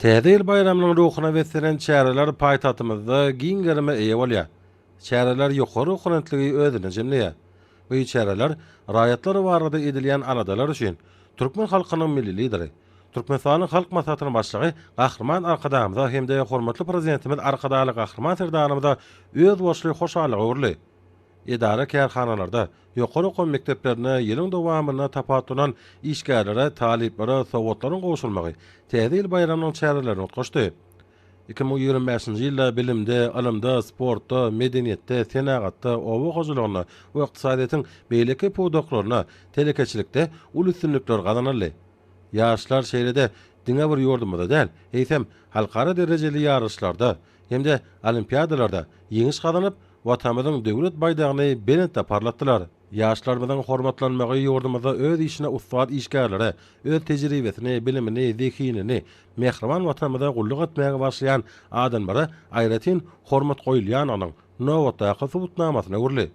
Täze ýyl baýramynyň ruhuna beslenen çäreler paýtagtymyzda giň gerime eýe bolýar. Çäreler ýokary oponentligi özünde jemleýär. Bu çäreler raýatlar barada edilýän aladalar üçin türkmen halkynyň Milli Lideri, Türkmenistanyň Halk Maslahatynyň Başlygy Gahryman Arkadagymyza hem-de hormatly Prezidentimiz Arkadagly Gahryman Serdarymyza özboluşly hoşallyga öwrüldi. Edara-kärhanalarda, ýokary okuw mekdeplerinde ýylyň dowamynda tapawutlanan işgärlere, talyplara sowgatlaryň gowşurmagy Täze ýyl baýramynyň çärelerini utgaşdy. Iki müň ýigrimi bäşinji ýylda bilimde, ylymda, sportda, medeniýetde, senagatda, oba hojalygynda we ykdysadyýetiň beýleki pudaklarynda, telekeçilikde uly üstünlikler gazanyldy. Ýaşlar şeýle-de diňe bir ýurdumyzda däl, eýsem, halkara derejeli ýaryşlarda, hem-de olimpiadalarda ýeňiş gazanyp, Watanymyzyň Döwlet baýdagyny belentde parlatdylar. Ýaşlarymyzyň hormatlanmagy ýurdumyzda öz işine ussat işgärlere, öz tejribesini, bilimini, zehinini mähriban Watanymyza gulluk etmäge bagyşlaýan adamlara aýratyn hormat goýulýandygynyň nobatdaky subutnamasyna öwrüldi.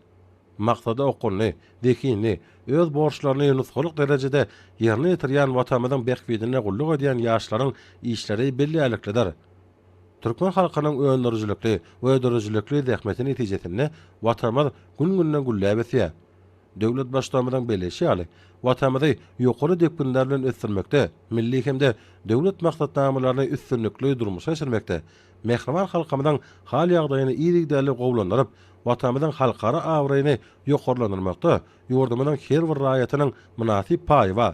Maksada okgunly, zehinli, öz borçlaryny nusgalyk derejede ýerine ýetirýän Watanymyzyň bähbidine gulluk edýän ýaşlaryň işleri bellärliklidir. Türkmen halkynyň öndürijilikli, göderijilikli zähmeti netijesinde Watanymyz gün-günden gülläp ösýär. Döwlet Baştutanymyzyň belleýşi ýaly, Watanymyzy ýokary depginler bilen ösdürmekde, milli hem-de döwlet maksatnamalaryny üstünlikli durmuşa geçirmekde, mähriban halkymyzyň hal-ýagdaýyny yzygiderli gowulandyryp, Watanymyzyň halkara abraýyny ýokarlandyrmakda ýurdumyzyň her bir raýatynyň mynasyp paýy bar.